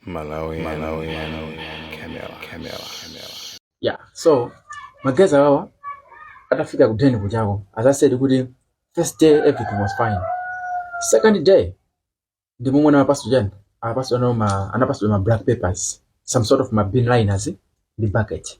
Malawian, Malawian, Camera, Camera, Camera. yeah so magaizi awawa atafika ku den kuchako as i said kuti first day everything was fine second day ndi momwe anawapatsa chani anawapatsa no ma anapatsidwa ma black papers some sort of ma bin liners ndi bucket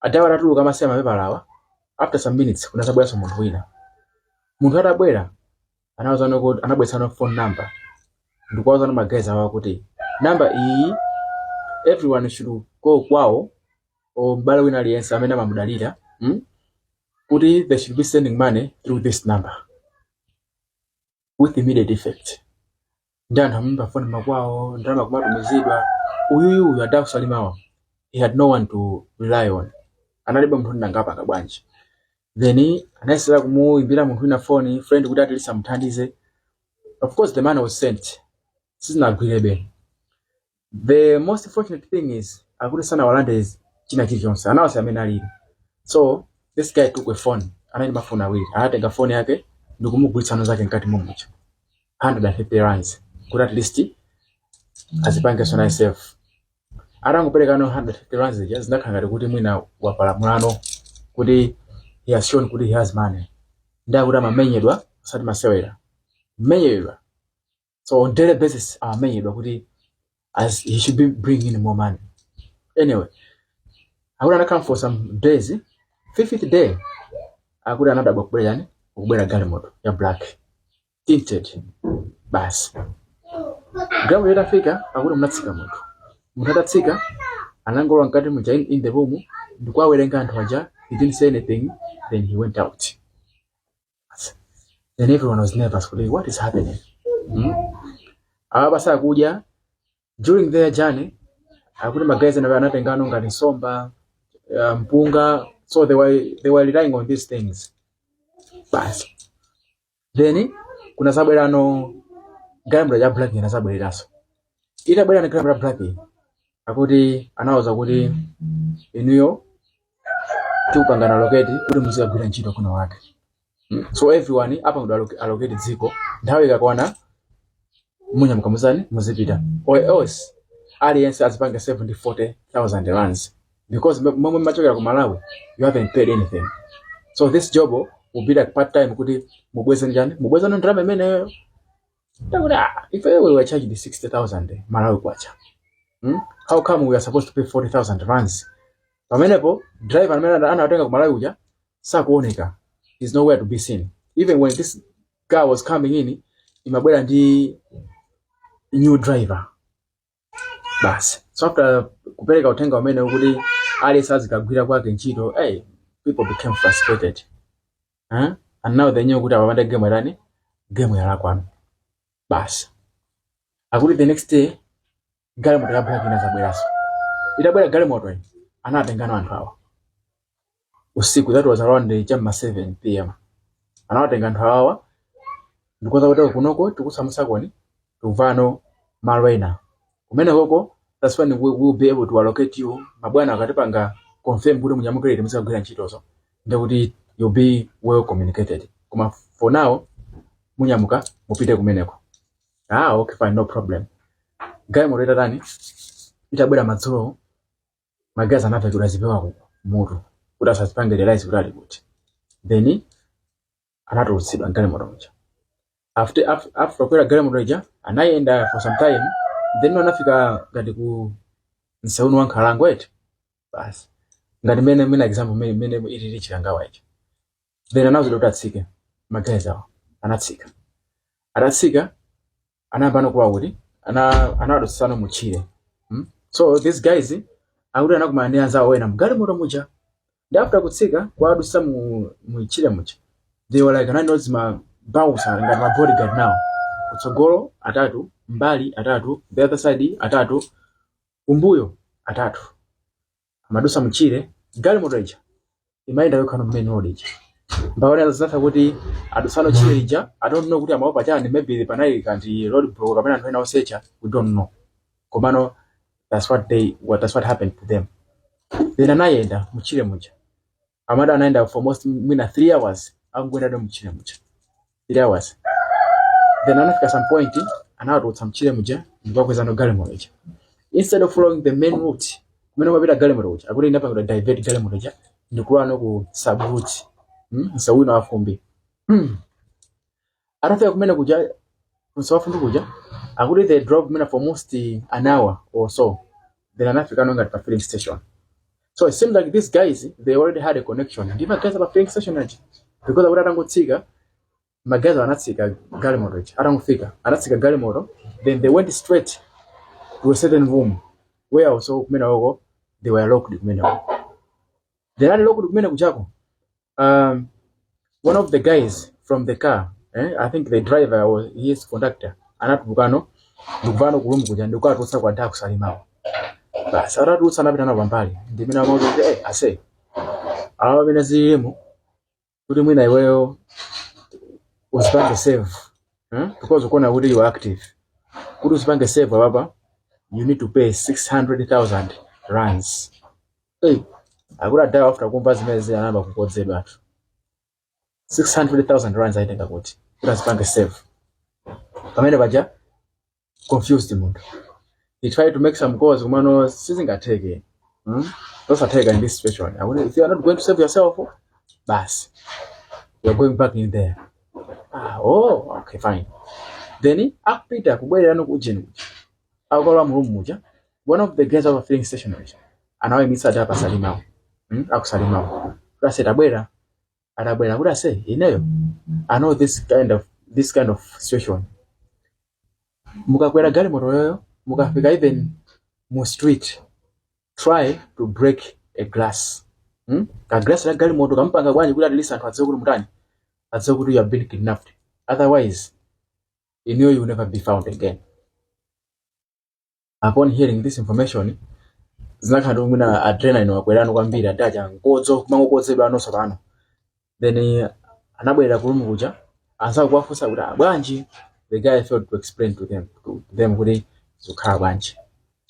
adawa atatuluka awasiya mapepalawa after some minutes kunazabweranso munthu wina munthu atabwera anawauzano kuti anabweretsano phone number ndikuwauzano magaizi awa kuti namba iyi everyone should call kwawo or m'bale wina aliyense amene amamudalira mm? kuti they should be sending money through this number with immediate effect ndi anthu amaimba foni makwawo ndalama kumatumizidwa uyuyu uyu ada aku salimawa he had no one to rely on analibe munthu kuti ndingapange bwanji then anayesera kumuimbira munthu wina foni friend kuti at least amuthandize of course the money was sent sizinagwirebe the most fortunate thing is akuti sanawalandetu china chilichonse anawasiya mmene alili so this guy took a phone anali ndi mafoni awiri anatenga foni yake ndikumugulitsa no mnzake mkati momuja 150 rands kuti at least azipangenso naye safe atangopereka no 150 rands ija zinakhala ngati kuti mwina wapalamulano kuti he has shown kuti he has money ndi akuti amamenyedwa osati masewera kumenyedwa so on daily basis amamenyedwa kuti as he should be bringing in more money anyway akuti anakhala for some days fifth day akuti anadabwa kubwera chani kubwera galimoto ya black tinted basi galimoto itafika akuti munatsika munthu munthu atatsika anangolowa mkati muja in, in the room ndikuwawerenga anthu aja he didn't say anything then he went out Then everyone was nervous. Kodi, What is happening? Hmm? Awa basi akudya during the journey akuti magaizi nawo anatengano ngati nsomba uh, mpunga so they were, they were relying on these things basi then kunazabwerano galimoto ya black inazabweranso itabwera no galimoto ya black akuti anawuza kuti inuyo tikupangani allocate kuti muzikagwira ntchito kuno okay Mm. so everyone apangidwa alloc- allocate dziko nthawi ikakwana munyamuka muzani muzipita or else aliyense azipange 74000 rands because m- momwe machokera ku malawi you haven't paid anything so this job will be like part time kuti mubweze chani mubweze ndalama imeneyo Ndakuti ah, if we were charged 60,000 Malawi kwacha. Hmm? How come we are supposed to pay 40,000 rands? Pamenepo driver amene ana- anawatenga ku Malawi uja sakuoneka. He's nowhere to be seen. Even when this guy was coming in, imabwera ndi new driver. basi so after kupereka uthenga umenewu kuti aliyense azikagwira kwake ntchito hey, people became frustrated huh? and now they knew kuti apapa nde game yatani game yalakwano basi akuti the next day galimoto ya black inazabweranso itabwera galimoto iyi anatengano anthu awo usiku that was around cha ma 7 pm anawatenga anthu awawa ndikuwauza kuti kunoko tikusamutsakoni tubvano malo ena kumenekoko that's when we will be able to allocate you mabwana akatipanga confirm kuti munyamuke lero muzakagwira ntchitozo ndikuti you'll be well communicated koma for now munyamuka mupite kumeneko ah okay fine no problem galimoto itatani itabwera madzulo maguys anavekedwa zipewa kumutu kuti asazipange realize kuti ali kuti then anatulutsidwa mgalimoto muja after af- after kukwera galimoto ija anayenda for some time then anafika ngati ku msewu wa nkhalango eti basi ngati mene mene example mene mene ilili chikangawa ichi then anawuzidwa kuti atsike maguys awo anatsika atatsika anayambano kuwa kuti ana- anawadutsitsano mu tchire mm? so these guys akuti anakumana ndi anzawo ena mgalimoto muja ndi after kutsika kuwadutsa mu mu tchire muja they were like analino ndi ma bouncer ngati ma bodyguard now kutsogolo atatu mbali atatu the other side atatu kumbuyo atatu amadutsa mtchire galimoto ija imayenda yokhano main road ija mpakana azatha kuti adutsano tchire lija i don't know kuti amaopa chani maybe panali kanti road block kapena anthu ena osecha we don't know komano that's what they what that's what happened to them then anayenda mtchire muja amada anayenda for almost mwina 3 hours akuyendadwe mtchire muja 3 hours then anafika some point anawatulutsa mtchire muja ndikuwakwezano galimoto ija instead of following the main route kumene imapita galimoto ija akuti inapangidwa divert galimoto ija ndikulowano ku sub route mm? msewuno wafumbi atafika kumenekuja msewu wafumbi kuja akuti they drove mwina for almost an hour or so then anafikano ngati pa filling station so it seems like these guys they already had a connection ndi maguys pa filling station aja because akuti atangotsika maguys anatsika galimoto ija atangofika anatsika galimoto then they went straight to a certain room where also kumenekoko they were locked kumenekoko then ali locked kumenekujako um, one of the guys from the car eh, i think the driver or his conductor anatulukano ndikubwerano ku room kuja ndikukatulutsa kwa adha aku Salima-wo basi atawatulutsa anapita nawo pambali ndi mmene amawauza kuti eh, ase apa mmene zililimu kuti mwina iweyo uzipange save eh? because ukuona kuti you are active kuti uzipange save apapa you need to pay 600000 rands Hey, akuti adhawa after kumva zimenezi anayamba kukodzedwatu 600,000 rands aitenga kuti kuti azipange save pamenepaja confused munthu he tried to make some calls kumano sizingatheke hmm? zosatheka in this situation akuti if you are not going to save yourself basi you are going back in there ah, oh okay fine then akupita kubwererano ku ujeni kuja akukalowa mu room muja one of the guys of filling station muja anawayimitsa adha aku Salima-wo mm? aku Salima-wo kuti ase tabwera atabwera kuti ase ineyo i know this kind of this kind of situation mukakwera galimoto iyoyo mukafika even mu street try to break a glass mm? ka glass la galimoto kamupanga chani kuti at least anthu adziwe kuti mutani adziwe kuti you have been kidnapped otherwise inuyo you will never be found again upon hearing this information zinakhala ngati mwina adrenaline yakwerano kwambiri adha aja nkodzo kumangokodzedwa konse pano then eh, anabwerera ku room kuja anzake kuwafunsa kuti "Ah, bwanji the guy failed to explain to them to them kuti zikukhala bwanji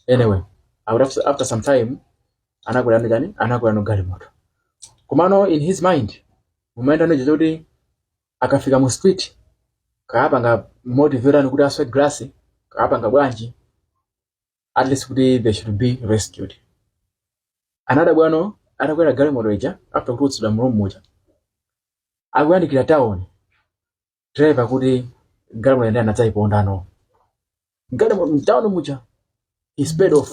anyway after, after- after some time anakwera mu chani anakwerano galimoto komano in his mind mumayendano zoti akafika mu street kapanga motivate kuti aswe glass kapanga bwanji at least kuti they should be rescued anadabwano atakwera galimoto ija after kutulutsidwa mu room muja akuyandikira town driver kuti galimoto ndiye anadzayipondano ngati mu- mtawuni muja he sped off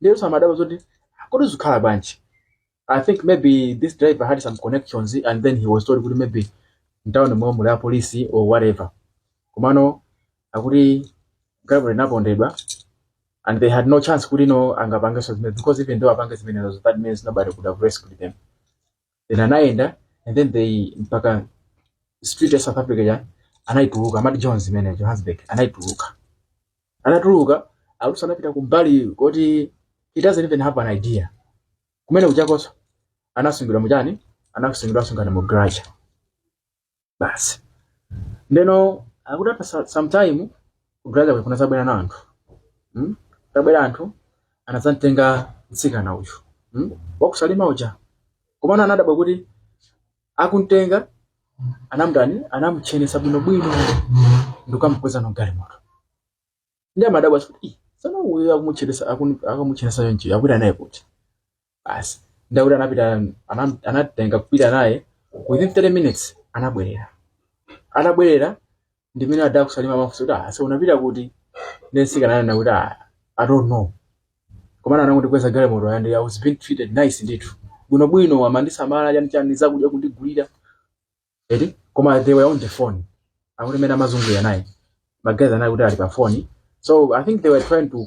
ndiye onse amadabwa zoti kodi zikhala bwanji i think maybe this driver had some connections and then he was told kuti maybe mtawunimo muli apolisi or whatever komano akuti galimoto inapondedwa and they had no chance kuti no angapangenso zimenezo because even though apange zimenezo that means nobody could have rescued them then anayenda and then they mpaka street ya south africa ya anayituluka amati jones imene johannesburg anayituluka anatuluka alusa anapita kumbali koti he doesn't even have an idea kumenekujakonso anasungidwa muchani anasungidwa asungana mu garage basi ndeno akuti apa sa- sometime ku garage kuja kunazabwera na anthu mm? atabwera anthu anadzamtenga mtsikana uyu mm? wakusalima uja komano anadabwa kuti akumtenga anamdani anamchenesa bwinobwino ndikukamukwezano galimoto ndiye amadabwa kuti "Ih, mtsikana uyu akumutchenesa akun- akamuchenesa yonje akwira naye kuti basi ndakuti anapita anam- anatenga kupita naye within 30 minutes anabwerera anabwerera ndimene ada akusalima amafunsa kuti "Ah, so unapita kuti nde msikana ananena kuti "Ah, i don't know komana anangondikweza galimoto and i was being treated nice ndithu bwinobwino amandisamala chanichani zakudya kundigulira eti koma they were on the phone akuti mene amazungulira naye magayizi akuti ali pa phone so i think they were trying to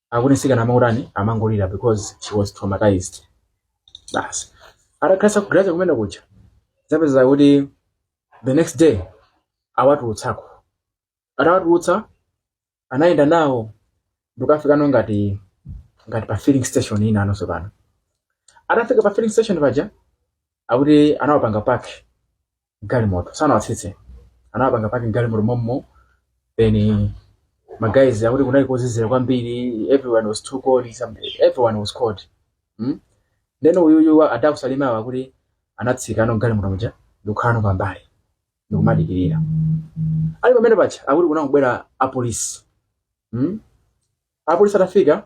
akuti msikana amangotani amangolira because she was traumatized basi atakhalisa ku garage kumene kuja zapeza kuti the next day awatulutsako atawatulutsa anayenda nawo ndikafikano ngati ngati pa filling station ina yakenso pano atafika pa filling station paja akuti anawapanga park galimoto sanawatsitse anawapanga park galimoto mommo then magayizi akuti kunali kozizira kwambiri everyone was too cold some- everyone was cold hmm? then uyuyu adakusalimawa akuti anatsika ano galimoto muja ndikukhalano pambali ndikumadikirira ali pamene paja akuti kunabwera apolisi hmm? apolisi atafika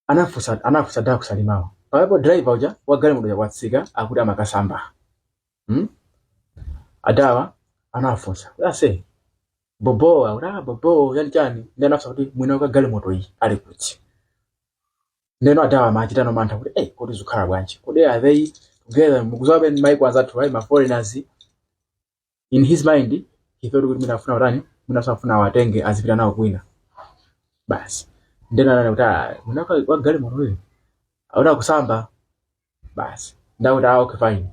anafusa anafusa da kusalimawo pamene driver uja wagalimoto uja watsika akuti amakasamba hmm? adawa anafunsa aise bobo aura bobo chani chani nde anafusa kuti mwini wake wa galimoto iyi ali kuti ndeno adawa amachitano mantha kuti ei kodi zikhala bwanji kodi are they together mukudziwabe ndi maiko anzathu awa ma foreigners in his mind he thought kuti mwina afuna kutani mwina afuna awatenge azipita nawo kwina basi nde ananena kuti "Ah, mwini wake wa galimoto uyu akusamba basi ndakuti ah okay fine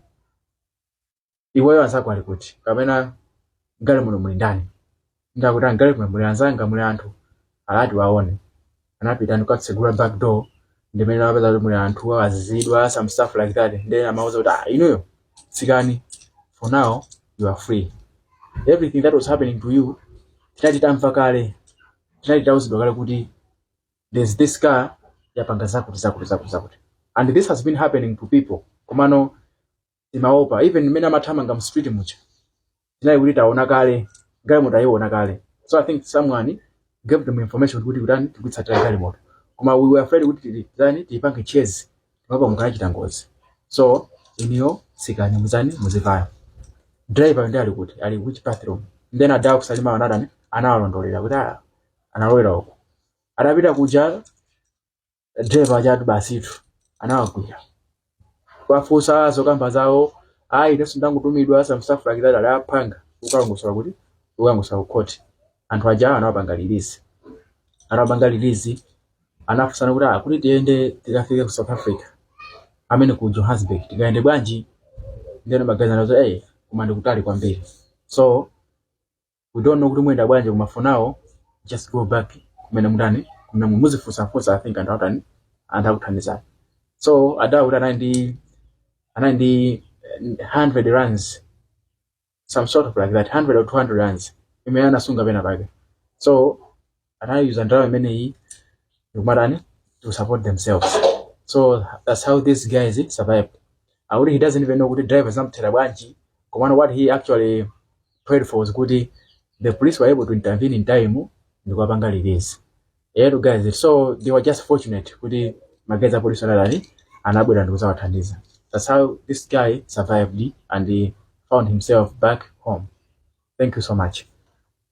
iweyo anzako ali kuti kapena galimoto muli ndani Ndakuti mgalimoto muli anzanga muli anthu anati awaone anapita ndikatsegula back door ndimene amapeza kuti muli anthu azizidwa some stuff like that then amawauza kuti ah inuyo tsikani for now you are free everything that was happening to you tinali tamva kale tinali tauzidwa kale kuti there's this car yapanga zakuti zakuti zakuti zakuti and this has been happening to people komano timaopa even mmene timathamanga mu street muja tinali kuti taona kale galimoto ayiona kale so i think someone gave them information kuti kutani tikutsatira galimoto koma we were afraid kuti ti- titani tiyipange chase timaopa mukachita ngozi so iniyo sikani muzani muzivaya driver ndi ali kuti ali which bathroom then adaa kusalima anatani anawalondolera kuti "Ah, analowera uku adapita kuja driver ajatu basitu anawagwira kuwafunsa zokamba zawo ayi inenso ndangotumidwa some stuff like that anapanga ukalongosola kuti ukalongosola ku khoti anthu aja anawapanga release anawapanga release anafunsana kuti "Ah, kuti tiyende tikafike ku south africa amene ku johannesburg tikayende bwanji ndeno amakazi anazo kuti ey koma ndikutali kwambiri so we don't know kuti muyenda bwanji koma for now just go back kumene mutani kumene mu- muzifunsafunsa i think anthu atani anthu akuthandizani so adawa kuti anali ndi anali ndi eh, 100 rands some sort of like that 100 or 200 rands imene anasunga pena pake so anayuza ndalama imeneyi ndikumatani to support themselves so that's how these guys survive akuti he doesn't even know kuti driver zamthera bwanji komano what he actually prayed for was kuti the police were able to intervene in time ndikuwapanga release ero guys so they were just fortunate kuti magezi a police anadani anabwera ndikuzawathandiza that's how this guy survived and he found himself back home thank you so much